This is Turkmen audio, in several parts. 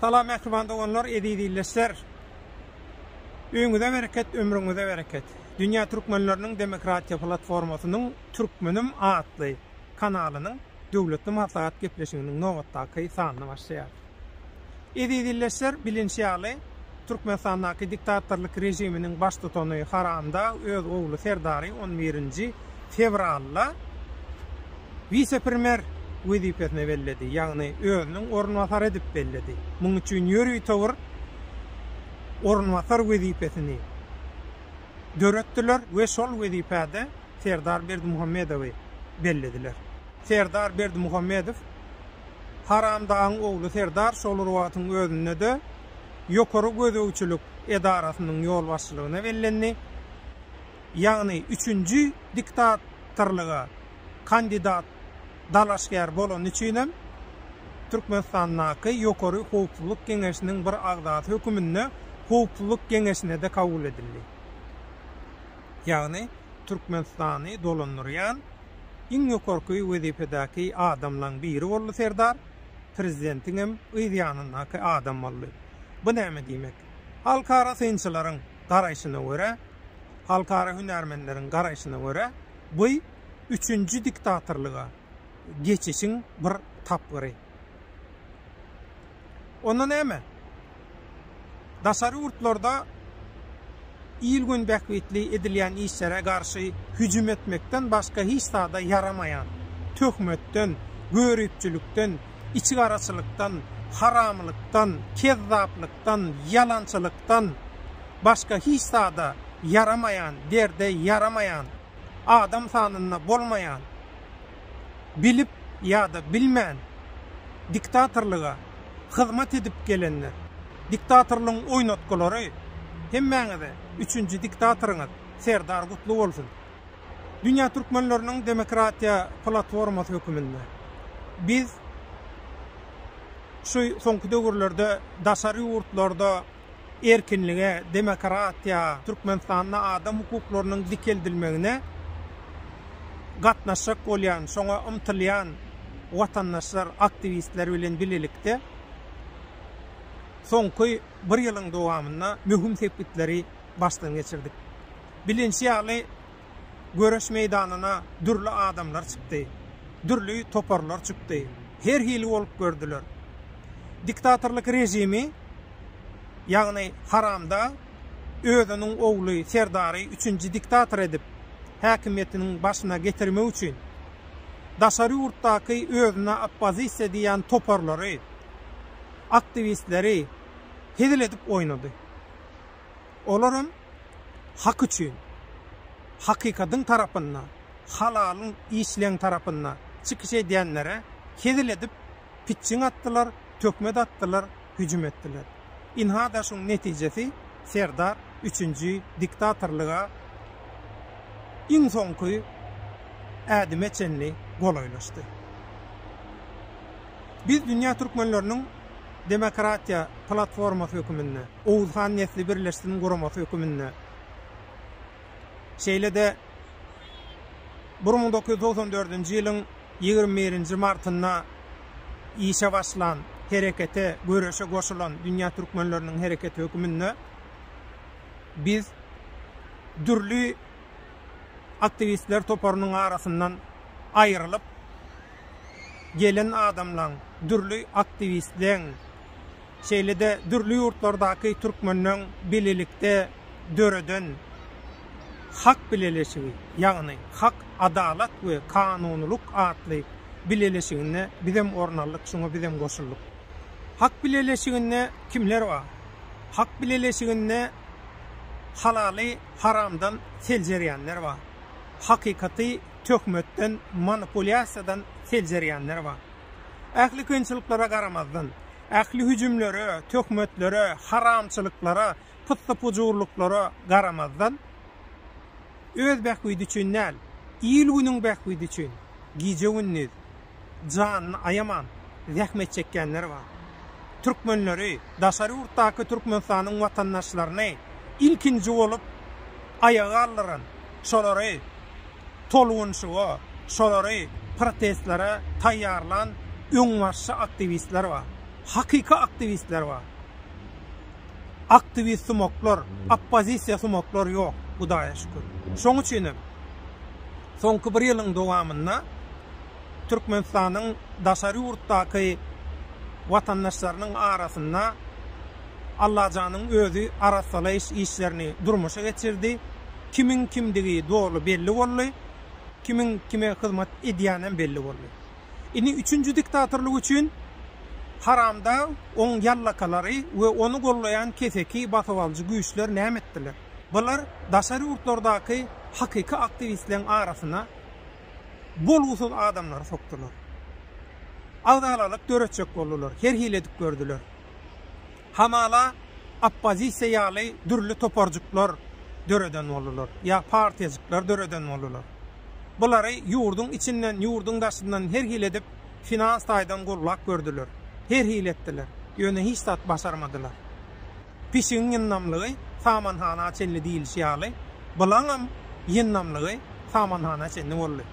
Salam mähriban doganlar, eziz ildeşler. Öýüňize bereket, ömrüňize bereket. Dünýä türkmenleriniň demokratiýa platformasynyň Türkmenim atly kanalynyň döwletli maslahat gepleşiginiň nobatdaky sanyny başlaýarys. Eziz ildeşler, bilinşi ýaly, Türkmenistandaky diktatorlyk režiminiň baştutany Haramdag öz ogly Serdary on birinji fewralda wise-premýer wezipesine belledi, ýagny özüniň orunbasary edip belledi. Munuň üçin ýörütewür orunbasar wezipesini döretdiler we şol wezipäde Serdar Berdimuhamedowy bellediler. Serdar Berdimuhamedow. Haramdagyň ogly Serdar şol wagtyň özünde-de Ýokary gözegçilik edarasynyň ýolbaşçylygyna bellendi. Ýagny üçünji diktatorlyga kandidat dalaşgär bolany üçinem Türkmenistandaky Ýokary howpsuzlyk geňeşiniň bir agzasy höküminde Howpsuzlyk geňeşine-de kabul edildi. Ýagny Türkmenistany dolandyrýan. Iň ýokarky wezipedäki adamlaň biri boldy serdar, prezidentiňem yz ýanyndaky adam boldy. Bu näme diýmek? Halkara synçylaryň garaýşyna görä, halkara hünärmenleriň garaýşyna görä, bu üçünji diktatorlyga geçişiň bir tapgyry. Onda näme? Daşary ýurtlarda il-gün bähbitli edilýän işlere garşy hüjüm etmekden başga hiç zada ýaramaýan, töhmetden, göripçilikden, içigaraçylykdan, haramlykdan, kezzaplykdan, ýalançylykdan başga hiç zada ýaramaýan, derde ýaramaýan, adam sanynda bolmaýan, bilip ýa-da bilmän diktatorlyga hyzmat edip gelenler, diktatorlygyň oýnatgylary hemmäňize üçünji diktatorňyz Serdar gutly bolsun. Dünýä Türkmenleriniň demokratiýa platformasy höküminde biz şu soňky döwürlerde daşary ýurtlarda, erkinlige, demokratiýa, Türkmenistanda adam hukuklarynyň dikeldilmegine gatnaşjak bolýan, şoňa ymtylýan watandaşlar, aktiwistler bilen bilelikde soňky bir ýylyň dowamynda möhüm sepgitleri başdan geçirdik. Bilinşi ýaly, Göreş meýdanyna dürli adamlar çykdy. Dürli toparlar çykdy. Her hili bolup gördüler. Diktatorlyk režimi, ýagny haramda özüniň ogly Serdary üçünji diktator edip, häkimiýetiniň başyna getirmek üçin, daşary ýurtdaky özüne oppozisiýa diýýän toparlary, aktiwistleri hezil edip oýnady. Olar hem hak üçin, hakykatyň tarapynda, halalyň işleň tarapynda çykyş edýänlere hezil edip, pitjiň atdylar, töhmet atdylar, hüjüm etdiler. Ynha-da şuň netijesi Serdar üçünji diktatorlyga iň soňky ädime çenli golaýlaşdy. Biz dünýä türkmenleriniň demokratiýa platformasy höküminde, Oguz han nesli birleşsin guramasy höküminde, şeýle-de bir müň dokuz ýüz togsan dördünji ýylyň ýigrimi birinji martynda işe başlan herekete, göreşe goşulan dünýä türkmenleriniň hereketi höküminde biz dürli aktiwistler toparynyň arasyndan aýrylyp, gelen adamlaň, dürli aktiwistleň, şeýle-de dürli ýurtlardaky türkmenleň bilelikde döreden Hak bileleşigi, ýagny Hak, adalat we kanunylyk atly bileleşiginde bizem orun aldyk, şuňa bizem goşuldyk. Hak bileleşiginde kimler bar? Hak bileleşiginde halaly haramdan seljerýänler bar, hakykaty töhmetden, manipulýasiýadan seljerýänler bar. Ähli kynçylyklara garamazdan, ähli hüjümlere, töhmetlere, haramçylyklara, pyssy-pujurlyklara garamazdan, öz bähbidi üçin däl, il-günüň bähbidi üçin gije-gündiz, janyny aýaman zähmet çekýänler bar. Türkmenleri, daşary ýurtdaky Türkmenistanyň watandaşlaryny ilkinji bolup aýaga galdyran, şolary tolgunyşyga, şolary protestlere taýýarlan öňbaşçy aktiwistler bar. Hakyky aktiwistler bar. Aktiwist sumaklar, oppozisiýa sumaklar ýok, Hudaýa şükür. Şoň üçin hem soňky bir ýylyň dowamynda Türkmenistanyň daşary ýurtdaky watandaşlarynyň arasynda Allajanyň özi arassalaýyş işlerini durmuşa geçirdi. Kimiň kimdigi doly belli boldy. Kimiň kime hyzmat edýänem belli boldy. Indi üçünji diktatorlyk üçin haramdag, oň ýallakalary we ony goldaýan keseki basybalyjy güýçler näme etdiler? Bular daşary ýurtlardaky hakyky aktiwistleriň arasyna bolgusyz adamlary sokdular. Agzalalyk döretjek boldular, her hili edip gördüler. Hamala oppozisiýa ýaly dürli toparjyklar döreden boldular, ýa partiýajyklar döreden boldular. Bulary ýurduň içinden, ýurduň daşyndan her hili edip finans taýdan goldap gördüler, her hili etdiler, ýöne hiç zat başarmadylar. Pişigiň ýyndamlygy samanhana çenli diýlişi ýaly, bulaňam ýyndamlygy samanhana çenli boldy.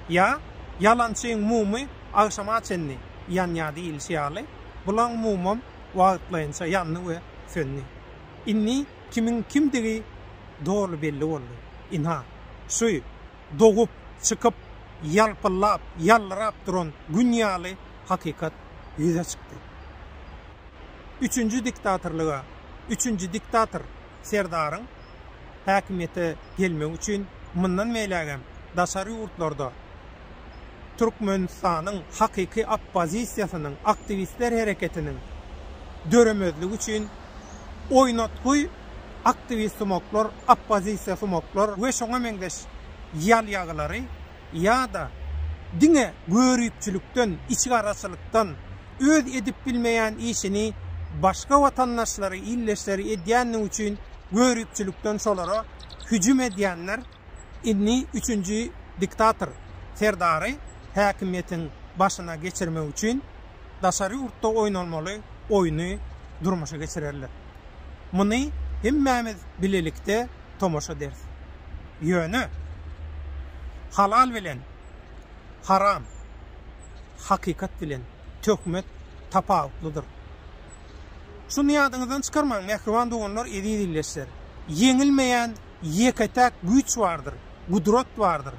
Ýa ýalançyň mumy agşama çenli ýanýar diýlişi ýaly, bulaň mumam wagtlaýynça ýandy we söndi. Indi kimiň kimdigi doly belli boldy. Ynha, şu dogup çykyp, ýalpyllap, ýallyrap duran gün ýaly hakykat ýüze çykdy. Üçünji diktatorlyga, üçünji diktator Serdaryň häkimiýete gelmegi üçin mundan beýlägem daşary ýurtlarda Türkmenistanyň hakyky oppozisiýasynyň, aktiwistler hereketiniň döremezligi üçin oýnatgy aktiwistsumaklar, oppozisiýasumaklar we şoňa meňzeş ýalýagylary ýa-da diňe göripçilikden, içgaraçylykdan, öz edip bilmeýän işini başga watandaşlary, ildeşleri edýänligi üçin göripçilikden şolara hüjüm edýänler, indi üçünji diktator Serdary häkimiýetiň başyna geçirmek üçin daşary ýurtda oýnalmaly oýny durmuşa geçirerler. Muny hemmämiz bilelikde tomaşa ederis. Ýöne halal bilen haram, hakykat bilen töhmet tapawutlydyr. Şuny ýadyňyzdan çykarmaň, mähriban doganlar, eziz ildeşler! Ýeňilmeýän ýeke-täk güýç bardyr, gudrat bardyr,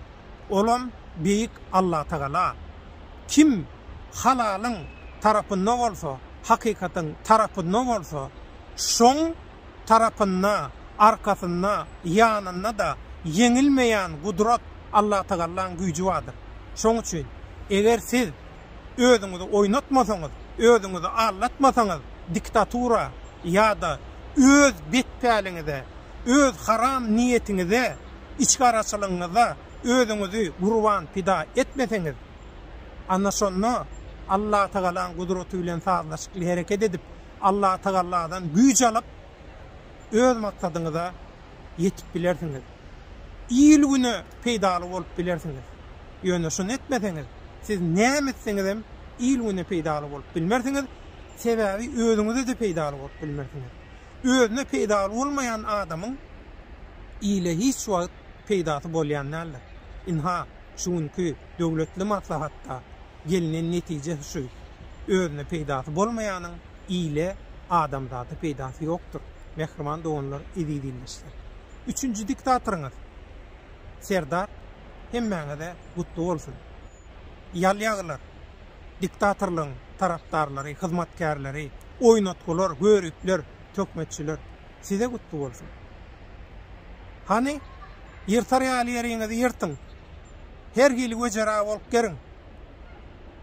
olam Beýik Allatagala. Kim halalyň tarapynda bolsa, hakykatyň tarapynda bolsa, şoň tarapynda, arkasynda, ýanynda-da ýeňilmeýän gudrat Allatagallaň güýji bardyr. Şoň üçin, eger siz özüňizi oýnatmasaňyz, özüňizi aldatmasaňyz, diktatura ýa-da öz betpäliňize öz haram niýetiňize, içgaraçylygyňyza özüňizi gurban, pida, etmeseňiz, ana şonda Allatagalaň gudraty bilen sazlaşykly hereket edip, Allatagalladan güýç alyp, öz maksadyňyza ýetip bilersiňiz. Il-güne peýdaly bolup bilersiňiz. Ýöne şuny etmeseňiz, siz näme etseňizem il-güne peýdaly bolup bilmersiňiz, sebäbi özüňize-de peýdaly bolup bilmersiňiz. Özüne peýdaly bolmaýan adamyň ile hiç wagt peýdasy bolýan däldir. Ynha, şu günki döwletli maslahatda gelnen netije şu, özüne peýdasy bolmaýanyň ile, adamzada peýdasy ýokdur, mähriban doganlar, eziz ildeşler. Üçünji diktatoryňyz Serdar hemmäňize gutly bolsun. Ýalýagylar! diktatorlygyň tarapdarlary, hyzmatkärleri, oýnatgylar, göripler, töhmetçiler. Size gutly bolsun. Hany, ýyrtar ýaly ýeriňizi ýyrtyň. Her hili wejera bolup geriň.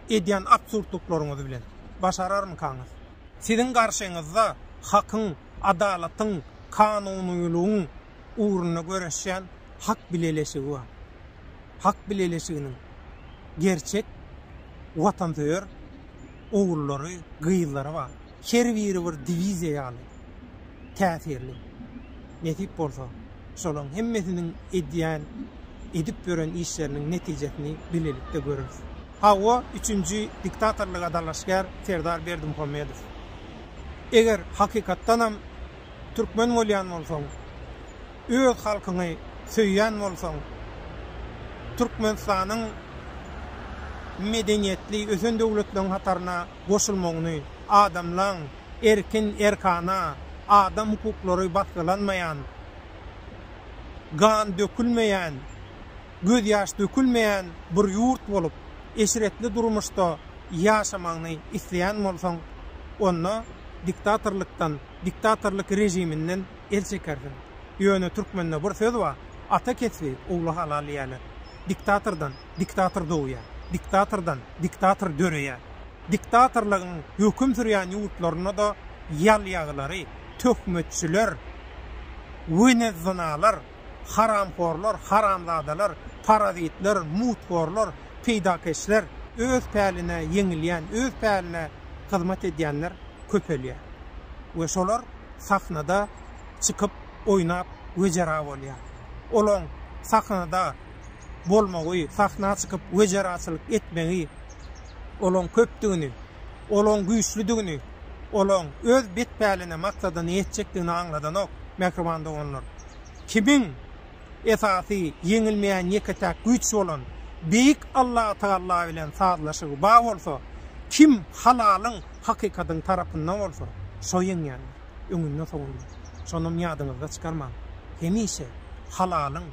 Edýän absurdlyklaryňyz bilen. Başararmykaňyz? Siziň garşyňyzda hakyň, adalatyň, kanunylygyň ugrunda göreşýän hak bileleşigi bar. Hak bileleşiginiň gerçek watansöýer ogullary, gyzlary bar. Her biri bir diwiziýa ýaly täsirli. Nesip bolsa, şolaň hemmesiniň edýän, edip ýören işleriniň netijesini bilelikde göreris. Hawa, üçünji diktatorlyga dalaşgär Serdar Berdimuhamedow. Eger hakykatdanam türkmen bolýan bolsaň, öz halkyňy söýýän bolsaň, Türkmenistanyň medeniýetli ösen döwletleriň hataryna goşulmagyny, adamlaň erkin, erkana, adam hukuklary basgylanmaýan, gan dökülmeýän, gözýaş dökülmeýän bir ýurt bolup, eşretli durmuşda ýaşamagyny isleýän bolsaň, onda diktatorlykdan, diktatorlyk režiminden el çekersiň. Ýöne türkmende bir söz bar, Ata kesbi, ogla halal diýýärler. Diktatordan diktator dogýar, diktatordan diktator döreýär. Diktatorlygyň höküm sürýän ýurtlarynda-da ýalýagylary, töhmetçiler, wenezzynalar, haramhorlar, haramzadalar, parazitler, muthorlar, peýdakeşler, öz päline ýeňilýän, öz päline hyzmat edýänler köpelýär we şolar sahnada çykyp oýnap wejera bolýar. Olaň sahnada bolmagy, sahna çykyp wejeraçylyk etmegi olaň köpdügini, olaň güýçlüdigini, olaň öz bet päline, maksadyna ýetjekdigini aňladanok, mähriban doganlar. Kimiň. esasy ýeňilmeýän ýeke-täk güýç bolan Beýik Allatagalla bilen sazlaşygy bar bolsa, kim halalyň, hakykatyň tarapynda bolsa, şo ýeňýändir. Öňünde-soňunda. Şonam ýadyňyzda çykarmaň. Hemişe halalyň,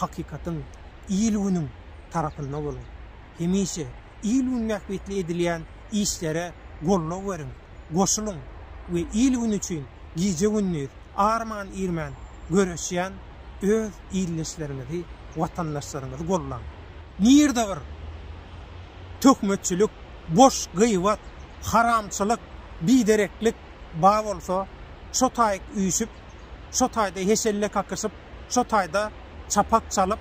hakykatyň, il-günüň tarapynda boluň. Hemişe il-gün bähbitli edilýän işlere goldaw beriň. goşulyň we il-gün üçin gije-gündiz arman-irmän göreşýän öz ildeşleriňizi, watandaşlaryňyzy gollaň. Nirde bir töhmetçilik, boş gybat, haramçylyk, bidereklik ba bolsa, şo taýyk üýşüp, şo taýda heşelle kakyşyp, şo taýda çapak çalyp,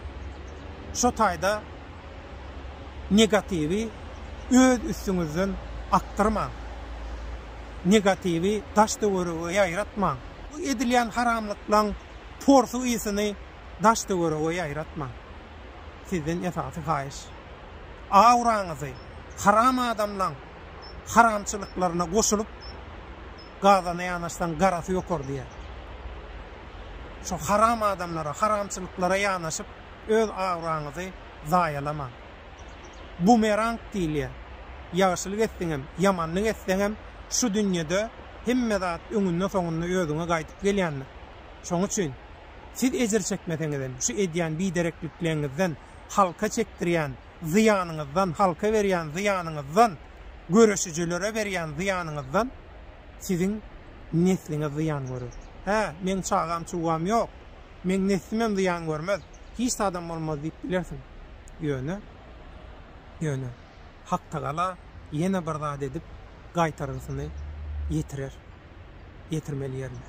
şo taýda Negatiwi öz üstüňizden akdyrmaň. Negatiwi daş-töwerege ýaýratmaň. Bu edilýän haramlyklaň porsy ysyny daş-töwerege ýaýratmaň. Sizden esasy haýyş. Auraňyzy haram adamlaň haramçylyklaryna goşulyp gazana ýanaşsaň garasy ýokar diýýär. Şo haram adamlara, haramçylyklara ýanaşyp öz abraýyňyzy zaýalamaň. Bumerang diýilýär. Ýagşylyk etseňem, ýamanlyk etseňem, şu dünýede hemme zat öňünde-soňunda özüňe gaýdyp gelýändir. Şoň üçin, siz ejir çekmeseňizem, şu edýän bidereklikleňizden, halka çekdirýän zyýanyňyzdan, halka berýän zyýanyňyzdan, göreşijilere berýän zyýanyňyzdan siziň nesliňiz zyýan görer. Hä, meň çagam-çugam ýok. Meň neslimem zyýan görmez, hiç zadam bolmaz diýip bilersiň. Ýöne, ýöne Haktagala ýene bir zat edip, gaýtargysyny ýetirer. Ýetirmeli ýerine.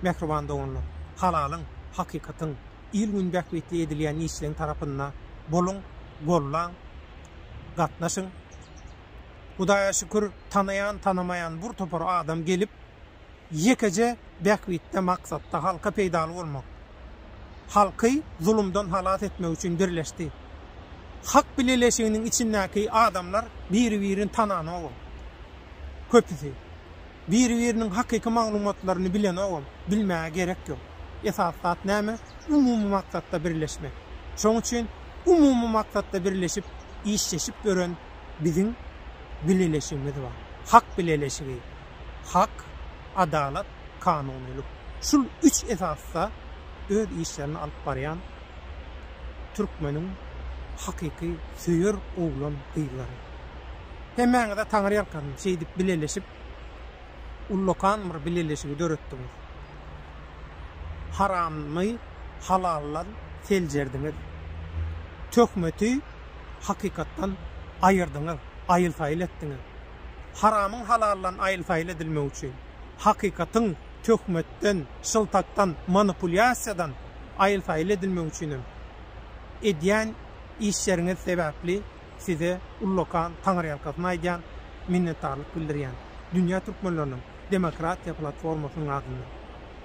Mähriban doganlar, halalyň, hakykatyň, il-gün bähbitli edilýän işleň tarapynda boluň, gollaň, gatnaşyň. Hudaýa şükür, tanaýan-tanamaýan bir topar adam gelip, ýekeje bähbitde maksatda halka peýdaly bolmak, halky zulumdan halas etmek üçin birleşdi. Hak bileleşiginiň içindäki adamlar biri-birini tananogam, köpüsi. Biri-biriniň hakyky maglumatlaryny bilenogam, bilmäge gerek ýok. Esasy zat näme? Umumy maksatda birleşmek. Şoň üçin umumy maksatda birleşip, işleşip ýören biziň bileleşigimiz bar. Hak bileleşigi. hak, adalat, kanunylyk, şul üç esasda öz işlerini alyp barýan türkmeniň hakyky söýer oglan gyzlary. Hemmäňize taňyrýalkasyn şeýdip bileleşip ullakan bir bileleşigi döretdiňiz. Haramny halaldan seljerdiňiz. Töhmeti hakykatdan aýyrdyňyz, aýyl-saýyl etdiňiz. Haramyň halaldan aýyl-saýyl edilmegi üçin, hakykatyň töhmetden, şyltakdan, manipulýasiýadan aýyl-saýyl edilmegi üçin hem edýän işleriňiz sebäpli size ullakan taňyrýalkasyn aýdýan, minnetdarlyk bildirýän dünýä türkmenleriniň demokratiýa platformasynyň adyndan.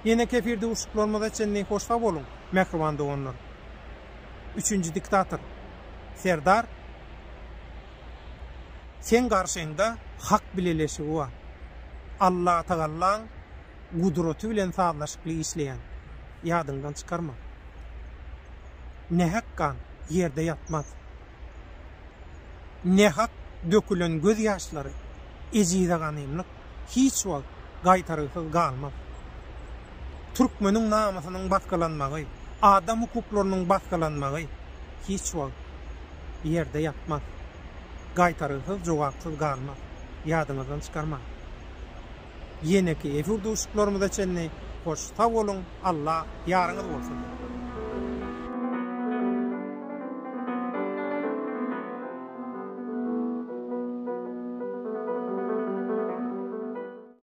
Ýene kefir duşuşyklarymyza çenli hoş sag boluň, mähriban doganlar! Üçünji diktator Serdar. Seň garşyňda Hak bileleşigi bar. Allatagallaň gudraty bilen sazlaşykly işleýäň. Ýadyňdan çykarma. Nähak gan ýerde ýatmaz. Nähak dökülen göz ýaşlary, ejize ganymlyk hiç wagt gaýtargysyz galmaz. Türkmeniň namysynyň basgylanmagy, adam hukuklarynyň basgylanmagy hiç wagt. ýerde ýatmaz. Gaýtargysyz, jogapsyz galmaz. Ýadyňyzdan çykarmaň. Ýeneki efir duşuşyklarymyza çenli hoş sag boluň Alla ýaryňyz bolsun.